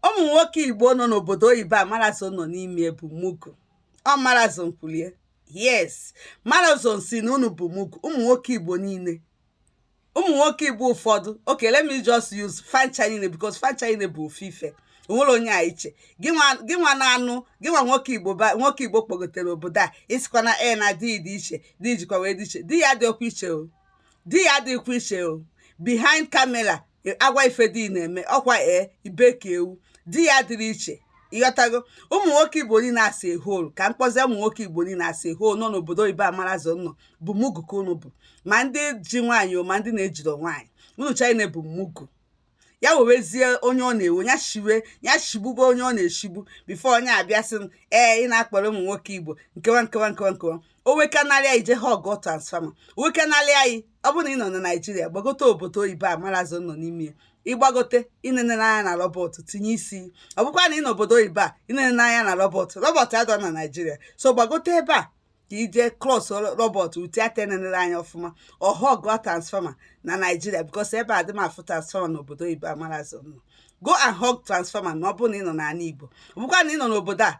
ụmụ nwoke igbo nọ n'obodo oyibo a marazo nọ n'ime bụ mugu ọ marazo nkwulie yes marazo sị na unu bụ mugu ụmụ nwoke igbo niile ụmụ nwoke igbo ụfọdụ okay let me just use fa ncha niile because fa ncha niile bụ ofu ife o nwere onye dị iche gị nwa na-anụ gị nwa nwoke igbo nwoke igbo kpọgotere obodo a ị sịkwa na e na di dị iche di jikwa wee dị iche di gị adịrọkwu iche o di gị adịrọkwu iche o behind camera a gwa gị ife di gị na-eme ọkwa ee i bee ka ewu di gị adịrọ iche ị ghọtago ụmụ nwoke igbo niile as a whole ka m kpọzie ụmụ nwoke igbo niile as a whole nọ n'obodo oyibo a marazo nọ bụ mugu ka unu bụ ma ndị ji nwaanyị o ma ndị na-ejiro nwaanyị unu ncha bụ mugu ya wewezie onye ọ na-ewe ya shiwe ya shigbugo onye ọ na-eshigbu before onye abịa sị m ee ị na-akpọrọ ụmụ nwoke igbo nkewa nkewa nkewa nkewa o wekanarị gị jee hug transformer o wekanarị gị ọ bụrụ na ị nọ na naijiria gbagote obodo oyibo a marazo nọ n'ime ya ị gbagote ị nenere anya na robot tinye isi ọ bụkwa na ị nọ obodo oyibo a ị nenere anya na robot robot adịrọ na naijiria so gbagote ebe a ka i jee close robot uti ata enenere anya ọfụma hug transformer na naijiria because ebe a adị m afụ transformer na obodo oyibo a marazo nọ go and hug transformer na ọ bụrụ na ị nọ n'ala igbo ọ bụkwa na ị nọ n'obodo a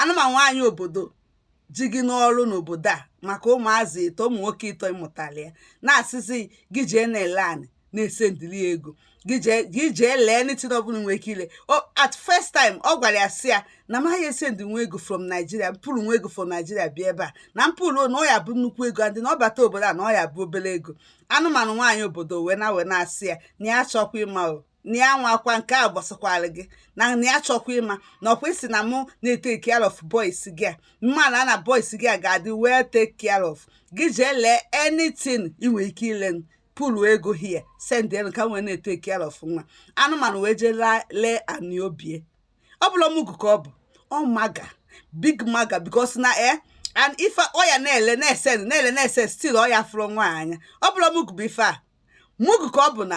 anụmanụ nwaanyị obodo ji gị n'ọrụ n'obodo a maka ụmụazị ịtọ ụmụ nwoke ịtọ ị mụtali ya na-asịzi gị jee na-ele anị na-esendịli ego gị jee gị jee lee anything ọbụla nwee ike ile o at first time ọ gwara ya sị ya na maghị esend nwa ego from Nigeria mpụrụ nwa ego from Nigeria bịa ebe a na mpụrụ na ọ ya-abụ nnukwu ego adị na ọ bata obodo a na ọ ya-abụ obere ego anụmanụ nwaanyị obodo wee na wee na-asị ya na ya achọkwa ịma o na ya nwakwa nke a gbasakwara gị na na ya chọkwa ịma na ọkwa ị sị na mụ na-etake care of boys gị a mma na na boys gị a ga-adị well taken care of gị jee lee anything ị nwere ike ile pụlụ ego hie send elu ka m wee na-etake care of nwa anụmanụ wee jee lee anị obi e ọ bụla ọ mugu ka ọ bụ ọ maga big maga because na e and ife ọ ya na-ele na-esend na-ele na-esend still ọya fụrụ nwa anya ọ bụla ọ mugu bụ ife a mugu ka ọ bụ na